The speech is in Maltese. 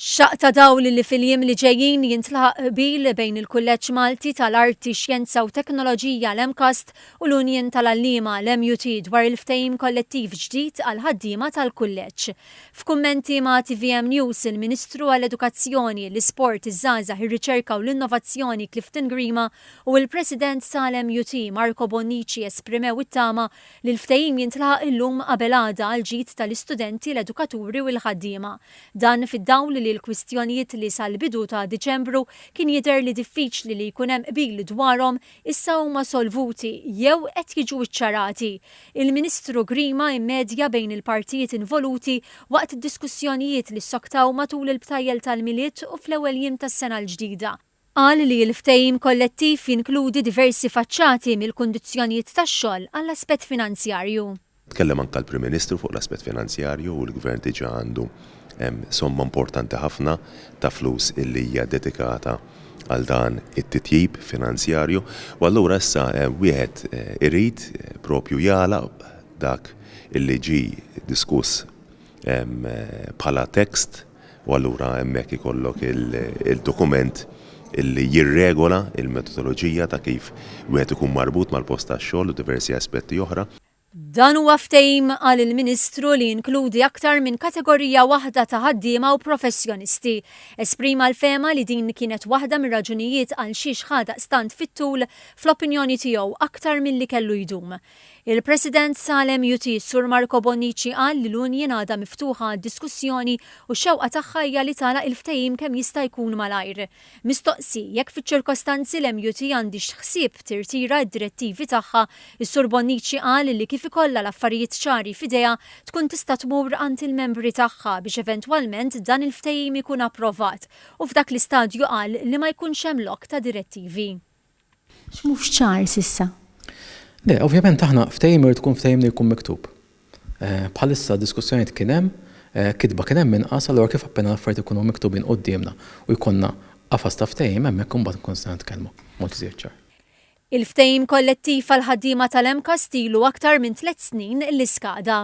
Xaqq ta' dawl li fil-jiem li ġejjin jintlaħaq qbil bejn il-Kulleġġ Malti tal-Arti, Xjenza u Teknoloġija, l-MCAST, u l-Unjin tal-Għalliema, l-MUT, dwar il-ftehim kollettiv ġdid għall-ħaddiema tal-Kulleġġ. F'kummenti ma' tvm News, il-Ministru għall-Edukazzjoni, l-Isport, iż-Żgħażagħ, ir-Riċerka u l-Innovazzjoni Clifton Grima u l-President tal-MUT, Marco Bonnici esprimew it-tama li l-ftehim jintlaħaq illum qabel għada għall-ġid tal-istudenti, l-edukaturi u l-ħaddiema. Dan fid-dawl li l-kwistjonijiet li sal-bidu ta' Diċembru kien jidher li diffiċli li jkun hemm qbil dwarhom issa huma solvuti jew qed jiġu ċċarati. Il-Ministru Grima immedja bejn il-partijiet involuti waqt diskussjonijiet li ssoktaw matul il-btajjel tal-Milied u fl-ewwel jiem tas-sena l-ġdida. Qal li l-ftehim kollettiv jinkludi diversi faċċati mill-kundizzjonijiet tax-xogħol għall-aspett finanzjarju. Tkellem anke l-Prim Ministru fuq l-aspett finanzjarju u l-Gvern diġà għandu somma importanti ħafna ta' flus li hija dedikata għal dan it-titjib finanzjarju u allura issa wieħed irid proprju jagħlaq dak li ġie diskuss bħala text u allura hemmhekk ikollok il-dokument li jirregola l-metodoloġija ta' kif wieħed ikun marbut mal-post tax-xogħol u diversi aspetti oħra. Dan huwa ftehim, qal il-Ministru, li jinkludi aktar minn kategorija waħda ta' ħaddiema u professjonisti. Esprima l-fehma li din kienet waħda mir-raġunijiet għalxiex ħa daqstant fit-tul, fl-opinjoni tiegħu, aktar milli kellu jdum. Il-President tal-MUT, Sur Marco Bonnici qal li l-Union għadha miftuħa għad-diskussjoni u x-xewqa tagħha hija li tagħlaq il-ftehim kemm jista' jkun malajr. Mistoqsi jekk fiċ-ċirkostanzi l-MUT għandhiex ħsieb tirtira d-direttivi tagħha, is-Sur Bonnici qal li kif ikollha l-affarijiet ċari f'idejha tkun tista' tmur għand il-membri tagħha biex eventwalment dan il-ftehim ikun approvat u f'dak l-istadju qal li ma jkunx hemm lok ta' direttivi. X'mhux ċar s'issa? Le, ovvjament aħna ftehim irid ikun ftehim li jkun miktub. Bħalissa diskussjonijiet kien hemm, kitba kien hemm inqas, allura kif appena l-affarijiet ikunu miktubin quddiemna u jkollna qafas ta' ftehim hemmhekk imbagħad inkunu nistgħu nitkellmu b'mod iżjed ċar. Il-ftehim kollettiv għall-ħaddiema tal-MCAST ilu aktar minn tliet snin li skada.